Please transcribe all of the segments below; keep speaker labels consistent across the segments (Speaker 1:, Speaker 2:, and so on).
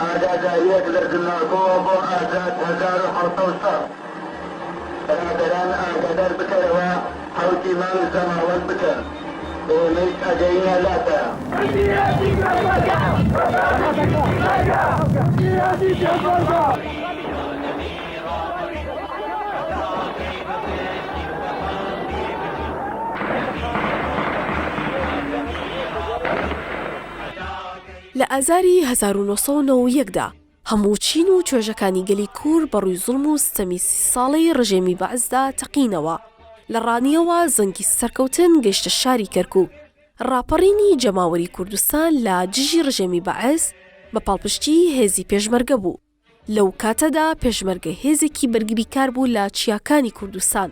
Speaker 1: ئاگاداریەک لە زماکۆوە بۆ ئازاد هەزار و حەوت سەد ساڵ برادەران ئاگادار بکەرەوە حەوتی مانگ زەماوەند بکەن ئێمەیش ئەگەینە لاتان. میراتی پێشمەرگە ڕەسەنی پیشمەرگە میراتی پێشمەرگە.
Speaker 2: لە ئازاری هەزار و نۆ سەد و نەوە و یەک دا هەموو چین و توێژەکانی گەلی کور بە ڕووی زوڵم و ستەمی سی ساڵەی ڕژێمی بەعسدا تەقینەوە. لە ڕانیەوە زەنگی سەرکەوتن گەیشتە شاری کەرکوک. ڕاپەڕینی جەماوەری کوردستان لە دژی ڕژێمی بەعس بە پاڵپشتیی هێزی پێشمەرگە بوو. لەو کاتەدا پێشمەرگە هێزێکی بەرگریکار بوو لە چیاکانی کوردستان.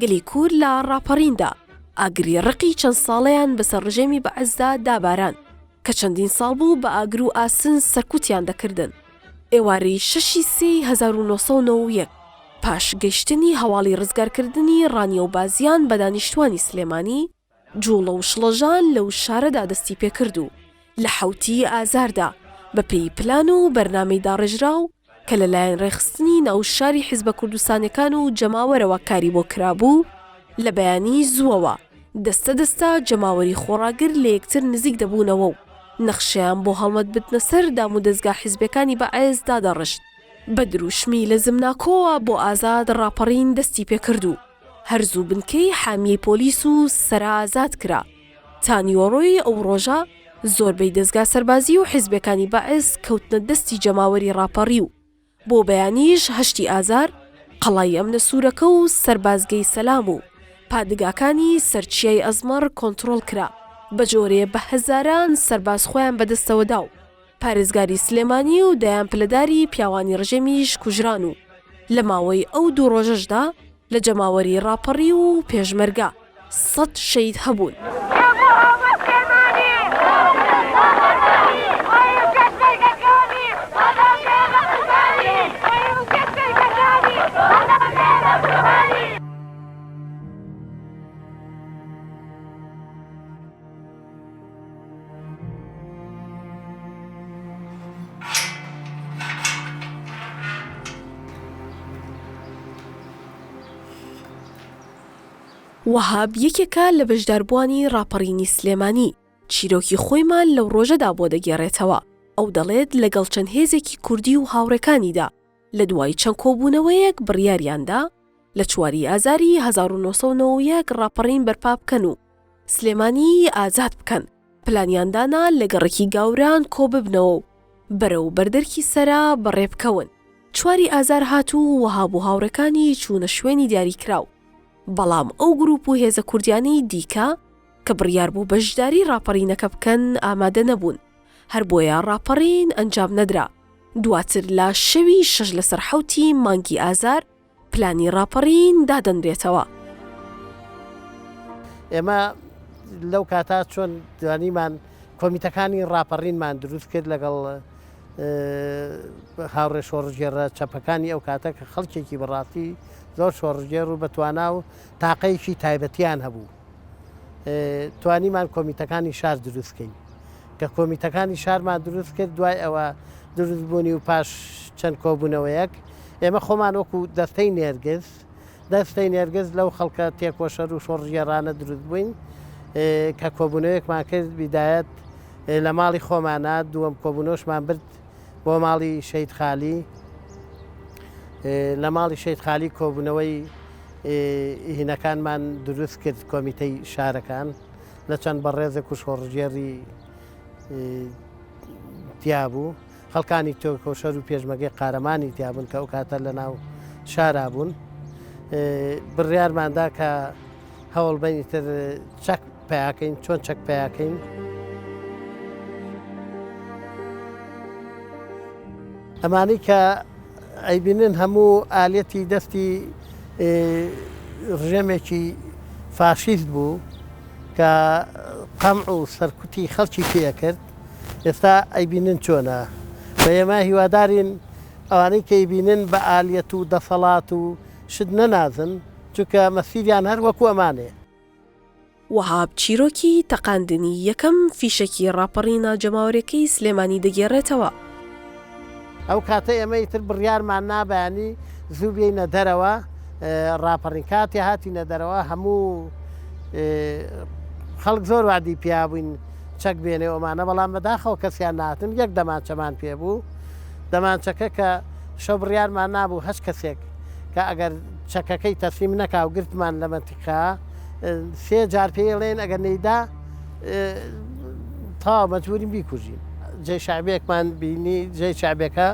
Speaker 2: گەلی کورد لە ڕاپەڕیندا ئاگری ڕقی چەند ساڵەیان بەسەر ڕژێمی بەعسدا داباراند کە چەندین ساڵ بوو بە ئاگر و ئاسن سەرکوتیان دەکردن. ئێوارەی شەشی سێی هەزار و نۆ سەد و نەوە و یەک پاش گەیشتنی هەواڵی ڕزگارکردنی ڕانیە و بازیان بە دانیشتوانی سلێمانی، جوڵە و شڵەژان لەو شارەدا دەستی پێکرد و لە حەوتی ئازاردا بە پێی پلان و بەرنامەی داڕێژراو کە لە لایەن ڕێکخستنی ناو شاری حیزبە کوردستانیەکان و جەماوەرەوە کاری بۆ کرابوو لە بەیانی زووەوە دەستە دەستە جەماوەری خۆڕاگر لە یەکتر نزیک دەبوونەوە و نەخشەیان بۆ هەڵمەت بتنە سەر دامودەزگا حیزبیەکانی بە عێز دادەڕشت. بە دروشمی لە زمناکۆوە بۆ ئازاد ڕاپەڕین دەستی پێکرد و، هەر زوو بنکەی حامیەی پۆلیس و سەرا ئازاد کرا. تا نیوەڕۆی ئەو ڕۆژە زۆربەی دەزگا سەربازی و حیزبەکانی بەعس کەوتنە دەستی جەماوەری ڕاپەڕیو. بۆ بەیانیش هەشتی ئازار قەڵای ئەمنە سوورەکە و سەربازگەی سەلام و پادگاکانی سەر چیای ئەزمەڕ کۆنتڕۆڵ کرا، بەجۆرێ بە هەزاران سەرباز خۆیان بەدەستەوەداو. پارێزگاری سلێمانی و دەیان پلەداری پیاوانی ڕژێمیش کوژران و لە ماوەی ئەو دوو ڕۆژەشدا لە جەماوەری ڕاپەڕی و پێشمەرگە سەد شەید هەبوون. وەهاب یەکێکە لە بەشداربووانی ڕاپەڕینی سلێمانی، چیرۆکی خۆیمان لەو ڕۆژەدا بۆ دەگێڕێتەوە، ئەو دەڵێت لەگەڵ چەند هێزێکی کوردی و هاوڕێکانیدا لە دوای چەند کۆبوونەوەیەک بڕیاریان دا لە چواری ئازاری هەزار و نۆ سەد و نەوە و یەک ڕاپەڕین بەرپا بکەن و سلێمانیی ئازاد بکەن، پلانیان دانا لە گەڕەکی گاوران کۆ ببنەوە و بەرەو بەردەرکی سەرا بەڕێ بکەون. چواری ئازار هات و وەهاب و هاوڕێکانی چوونە شوێنی دیاریکراو، بەڵام ئەو گرووپ و هێزە کوردییانەی دیکە، کە بڕیار بوو بەشداری ڕاپەڕینەکە بکەن ئامادە نەبوون، هەر بۆیە ڕاپەڕین ئەنجام نەدرا. دواتر لە شەوی شەش لەسەر حەوتی مانگی ئازار پلانی ڕاپەڕین دادەنرێتەوە.
Speaker 3: ئێمە لەو کاتە چۆن توانیمان کۆمیتەکانی ڕاپەڕینمان دروست کرد لەگەڵ هاوڕێ شۆڕژگێڕە چەپەکانی ئەو کاتە کە خەڵکێکی بەڕاستی زۆر شۆڕژگێڕ و بەتوانا و تاقەیەکی تایبەتیان هەبوو. توانیمان کۆمیتەکانی شار دروست بکەین کە کۆمیتەکانی شارمان دروست کرد دوای ئەوە دروست بوونی و پاش چەند کۆبوونەوەیەک ئێمە خۆمان وەکو دەستەی نێرگز دەستەی نێرگز لەو خەڵکە تێکۆشەر و شۆڕژێرانە دروست بووین کە کۆبوونەوەیەکمان کرد بیدایەت لە ماڵی خۆمانە دووەم کۆبوونەوەشمان برد بۆ ماڵی شەید خالی لە ماڵی شەید خالی کۆبوونەوەی هینەکانمان دروست کرد کۆمیتەی شارەکان لە چەند بەڕێزە کوشۆڕژێری تیابوو خەڵکانی تۆکۆشەر و پێشمەگەی قارەمانی تیابوون کە ئەو کاتە لە ناو شارا بوون بڕیارماندا کە هەوڵبەنی تر چەک پیاکەین چۆن چەک پیاکەین؟ ئەمانی کە ئەیبینن هەموو ئالەتی دەستی ڕژێمێکی فاشیست بوو کە قەم و سەرکوتی خەڵکی پێکرد ئێستا ئەیبینن چۆنە بە ئێمە هیوادارین ئەوانەی کە ئەیبینن بە ئالەت و دەسەڵات و شت نەنازن چونکە مەسیریان هەر وەکو ئەمانێ
Speaker 2: وەهاب چیرۆکی تەقاندنی یەکەم فیشەکی ڕاپەڕی ناجەماوەرێکەی سلێمانی دەگێڕێتەوە.
Speaker 3: ئەو کاتە ئێمە ئیتر بڕیارمان نا بەیانی زوو بێینە دەرەوە ڕاپەڕین کاتێ هاتینە دەرەوە هەموو خەڵک زۆر وادی پیا بووین چەک بێنێ ئەمانە بەڵام بەداخەوە کەسیان ناتن یەک دەمانچەمان پێ بوو دەمانچەکە کە شەو بڕیارمان نابوو هەچ کەسێک کە ئەگەر چەکەکەی تەسلیم نەکا و گرتمان لە منتیقە کە سێ جار پێی ڵێن ئەگەر نەیدا تەواو مەجبورین بیکوژین جێ شعبێکمان بینی جێ شعبێکە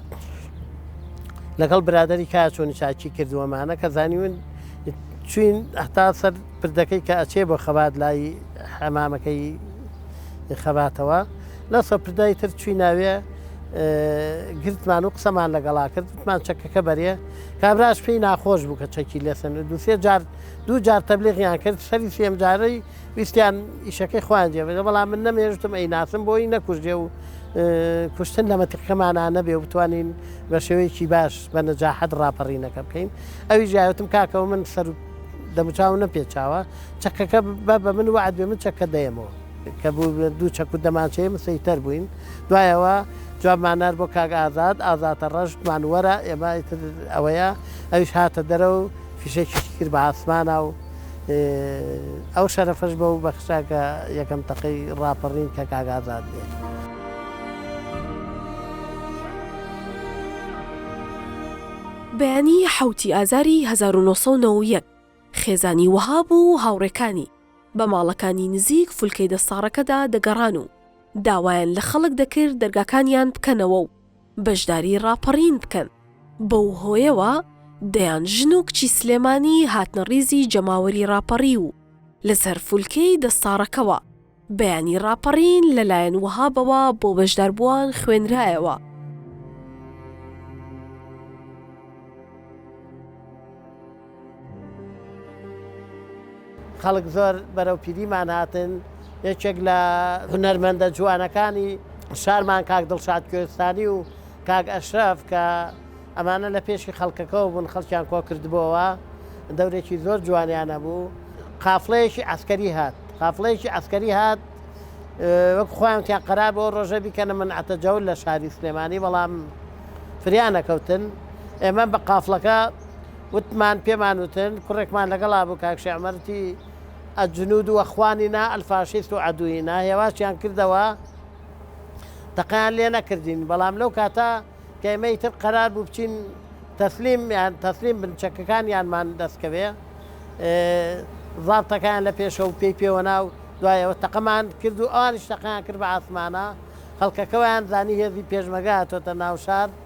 Speaker 3: لەگەڵ برادری کا چۆنی چاکی کردووەمانە کە زانیون چین هەتا سەر پردەکەی کە ئەچێ بۆ خەبات لای حەمامەکەی خەباتەوە لە سەپردای تر چوی ناوێ گرتمان و قسەمان لەگەڵا کردمان چەکەکە بەرێ کابراش پێی ناخۆش بوو کە چەکی لێسەند دوو سێ جار دوو جار تەبلیغیان کرد سەری سێم جارەی ویستیان ئیشەکەی خۆیان جێبێت بەڵام من نەمێژتم ئەی ناسم بۆی نەکوژێ و کوشتن لە مەتیقەمانە نەبێ و بتوانین بە شێوەیەکی باش بە نەجاحەت ڕاپەڕینەکە بکەین ئەوی ژایوتم کاکەەوە من سەر دەموچاو نەپێچاوە چەکەکە بە بە من وعد بێ من چەکە دەیەمەوە کە بووبێت دوو چەک و دەمانچەیە مسەیتەر بووین دوای ئەوە جوابمان نارد بۆ کاک ئازاد ئازاتە ڕەشتمان وەرە ئێمە ئیتر ئەوەیە ئەویش هاتە دەرە و فیشەکیشی کرد بە ئاسمانە و ئەو شەرەفەش بە و بەخشا کە یەکەم تەقەی ڕاپەڕین کە کاک ئازاد بێت.
Speaker 2: بەیانی حەوتی ئازاری 1990 خێزانی وەهاب و هاوڕێکانی بە ماڵەکانی نزیک فولکەی دەستاڕەکەدا دەگەڕان و داوایان لە خەڵک دەکرد دەرگاکانیان بکەنەوە و بەشداری ڕاپەڕین بکەن، بەو هۆیەوە دەیان ژن و کچی سلێمانی هاتنە ڕیزی جەماوەری ڕاپەڕیو و لە سەر فولکەی دەستاڕەکەوە بەیانی ڕاپەڕین لە لایەن وەهابەوە بۆ بەشداربووان خوێنرایەوە.
Speaker 3: خەڵک زۆر بەرەو پیریمان هاتن یەکێک لە هونەرمەندە جوانەکانی شارمان کاک دڵشاد کوێستانی و کاک ئەشرف کە ئەمانە لە پێشی خەڵکەکەەوە بوون خەڵکیان کۆ کردبووەوە دەورێکی زۆر جوانیانە بوو قافلەیەکی ئەسکەری هات قافلەیەکی ئەسکەری هات وەک خۆیان تیا قەرار بۆ ڕۆژە بیکەنە من ئەتەجەول لە شاری سلێمانی بەڵام فریانەکەوتن ئێمە بە قافلەکە وتمان پێمان وتن کوڕێکمان لەگەڵا بوو کاک شێعمەر وتی، الجنود و اخواننا الفاشیست و عدوینا، هێواشیان کردەوە تەقەیان لێ نەکردین بەڵام لەو کاتە کە ئێمە ئیتر قەرار بوو بچین تەسلیم یان تەسلیم بن چەکەکانیانمان دەست کەوێ زابتەکەیان لە پێشە و پێی پێوەنا و دوای ئەوە تەقەمان کرد و ئەوانیش تەقەیان کرد بە عاسمانە خەڵکەکەوەیان زانی هێزی پێشمەگە هاتۆتە ناو شار.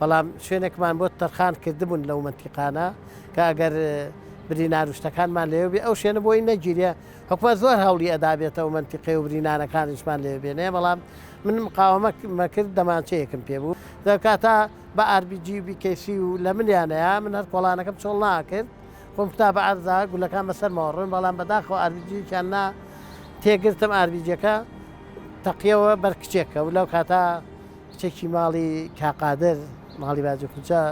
Speaker 3: بەڵام شوێنێکمان بۆ تەرخان کردبوون لەو مەنتیقانە کە ئەگەر برینار و شتەکانمان لێو بێ ئەو شوێنە بۆی نەگیرێ حکومە زۆر هەوڵی ئەدابێتەوە منتیقی و برینانەکانیشمان لێ بێنێ بەڵام من مقاومەمە کرد دەمانچەیەکم پێ بوو دەکاتە بە ئاربیجی بیکەسی و لە منیانەیە من هەر کۆڵانەکەم چۆڵ ناکرد خۆم تا بە ئارزا گولەکان بەسەر ماوەڕۆن بەڵام بەداخەوە ئاربیجیان نا تێگرتم ئاربیجەکە تەقیەوە بەرکچێکە و لەو کاتا کچێکی ماڵی کا قادر ماڵی باجی خوجە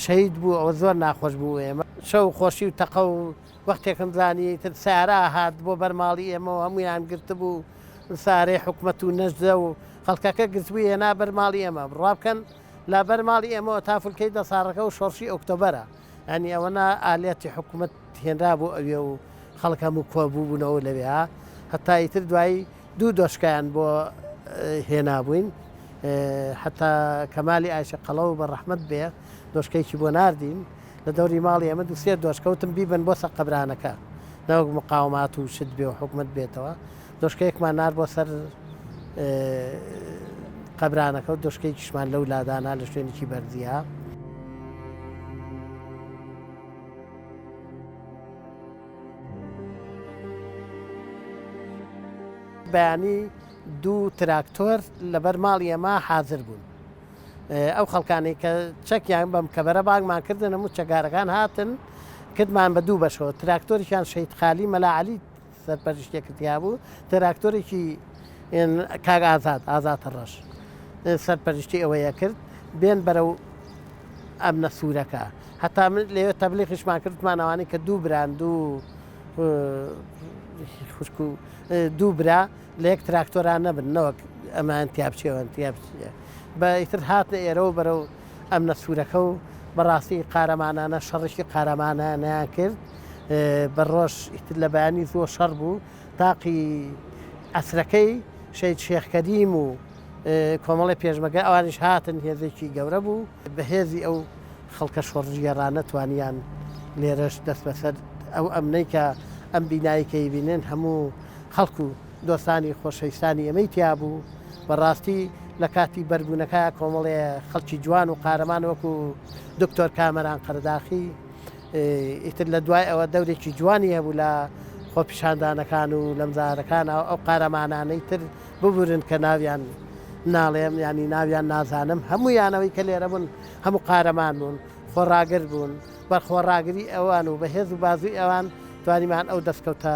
Speaker 3: شەهید بوو ئەوە زۆر ناخۆش بوو ئێمە شەو خۆشی و تەقە و وەختێکم زانی تر سارا هات بۆ بەرماڵی ئێمە هەمویان گرت بوو سارەی حکومەت و نەجدە و خەڵکەکە گرتبوو هێنا بەرماڵی ئێمە بڕابکەن لە بەرماڵی ئێمەوە تافلکەی دەساڕەکە و شۆڕشی ئۆکتۆبەرە یانی ئەوەنە ئالیاتی حکومەت هێنرابوو ئەوێ و خەڵک هەموو کۆبووبوونەوە لەوێ هەتا ئیتر دوایی دوو دۆشکیان بۆ هێنابووین حتا کەمالی ئایشە قەڵە و بە ڕەحمت بێ دۆشکێکی بۆ نردین لە دەوری ماڵی ئەمە دوسێ دۆشکەوتم بیبن بۆ سەقەبرانەکە نەوەک مقاومات و شت بێ و حکومت بێتەوە دۆشکەیەکمان نارد بۆ سەر قەبرانەکە و دۆشکەیەکیشمان لەو لا دانا لە شوێنێکی بەرزییە. بەیانی دوو تراکتۆر لەبەر ماڵی ئەمە حاضر بوون ئەو خەڵکانی کە چەکیان بەم کەبەرە بانگمان کردن و چەگارەکان هاتن کردمان بە دوو بەشەوە تراکتۆریان شەید خالی مەلاعالی سەرپەرشتێکت هەبوو تراکتۆرێکی کاک ئازاد ئازاد ڕەش سەرپەرشتی ئەوەیە کرد بێن بەرەو ئەم نە سوورەکە هەتا من لێوێ تەبلیغیشمان کردمان ئەوانەی کە دوو بران دوو خوشک و دوو برا لە یەک تراکتۆران نەبن نەوەک ئەمان تیاپچێوەن تیاپچێ بە ئیتر هاتنە ئێرەوە بەرەو ئەمنە سورەکە و بەڕاستی قارەمانانە شەڕێکی قارەمانانەیان کرد بە ڕۆژ ئیتر لە بەیانی زۆر شەڕ بوو تاقی ئەسرەکەی شەید شێخ کەریم و کۆمەڵی پێشمەگە ئەوانیش هاتن هێزێکی گەورە بوو بە هێزی ئەو خەڵکە شۆڕژگێڕانە توانیان لێرەش دەست بەسەر ئەو ئەمنەی کە ئەم بینایکەی بینێن هەموو خەڵکو دۆستانی خۆشەویستانی ئێمەی تیا بوو، بە ڕاستی لە کاتی بەر بوونەکە کۆمەڵێ خەڵکی جوان و قارەمان وەکوو دکتۆر کامەران قەرەداخی ئیتر لە دوای ئەوە دەورێکی جوانی هەبوو لە خۆپیشاندانەکان و لە مزارەکان ئەو قارەمانانەی تر ببورن کە ناویان ناڵێم ینی ناویان نازانم هەموو یانەوەی کە لێرە بوون هەموو قارەمان بوون خۆڕاگر بوون بەرخۆڕاگری ئەوان و بەهێز و بازووی ئەوان توانیمان ئەو دەستکەوتە